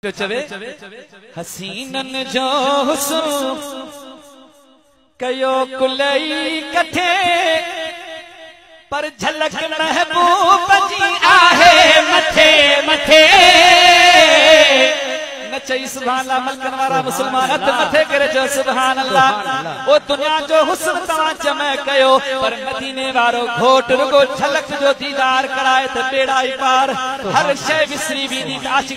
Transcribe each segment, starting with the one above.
پيو چوي، حسينن جو حسن ڪيو ڪلئي ڪٿي، پر جھلڪ محبوب جي آهي مٿي مٿي. نه چئي سبحان الله ملڪن وارا مسلمان هٿ مٿي ڪري چيو سبحان الله او دنيا جو حسن توهان جمع ڪيو پر مديني وارو گھوٽ رڳو جھلڪ جو ديدار ڪرائي ته ٻيڙا ئي پار هر شيء وسري ويندي ته عاشق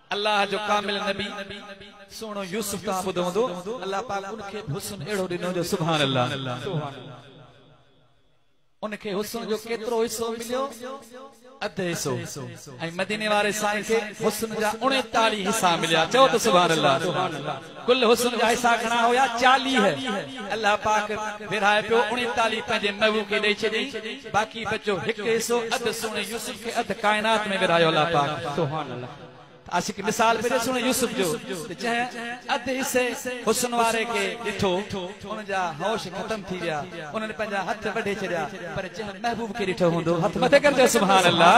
الله جو ڪامل نبي سهڻو يوسف تان ٻڌو هوندو الله پاڪ ان کي به حسن اهڙو ڏنو جو سبحان الله ان کي حسن جو ڪيترو حصو مليو اڌ حصو ۽ مديني واري سائين کي حسن جا 39 حصا مليا چئو ته سبحان الله گل حسن جا حصا گهڻا هيا، چاليهه. الله پاڪ ورهائي پيو، اڻيتاليهه پنهنجي مئو کي ڏئي چڏيائين، باقي بچو هڪ حصو، اڌ سهڻي يوسف کي اڌ ڪائنات ۾ ورهايو الله پاڪ. سبحان الله. ته اسين کي مثال ملي سهڻي يوسف جو ته جنهن اڌ حصي حسن واري کي ڏٺو، ان جا هوش ختم ٿي ويا، انهن پنهنجا هٿ وڍي ڇڏيا، پر جنهن محبوب کي ڏٺو هوندو، هٿ مٿي ڪر چئو سبحان الله.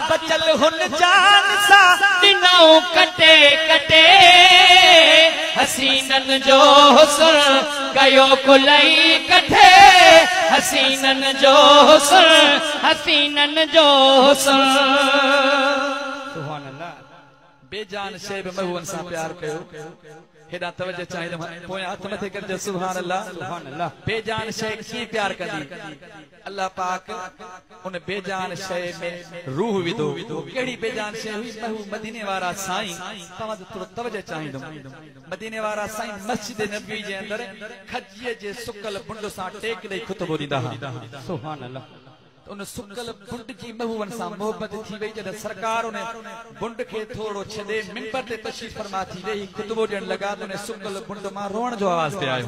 بچل هن جان سان ڏنائون ڪٽي ڪٽي حسينن جو حسن ڪيو ڪلئي ڪٺي حسينن جو حسن حسينن جو حسن سبحان الله بي جان شي به محبوبن سان پيار ڪيو هيڏا توجه چاهيندم پويان هٿ مٿي ڪرجو سبحان الله سبحان الله بي جان شي ڪيئن پيار ڪندي الله پاڪ ان بي جان شيء ۾ روح وڌو، اهو ڪهڙي بي جان شيء هئي؟ ته هو مديني وارا سائين، توهان جو ٿورو توجه چاهيندم، مديني وارا سائين مسجد نبوي جي اندر کجيء جي سڪل بنڊ سان ٽيڪ ڏئي خطبو ڏيندا ها. سبحان الله! ته ان سڪل بنڊ جي محوون سان محبت ٿي وئي، جڏهن سرڪار ان بنڊ کي ٿورڙو ڇڏي منبر تي تشريف فرما ٿي ويهي خطبو ڏيڻ لڳا ته ان سڪل بنڊ مان روئڻ جو آواز پئي آيو.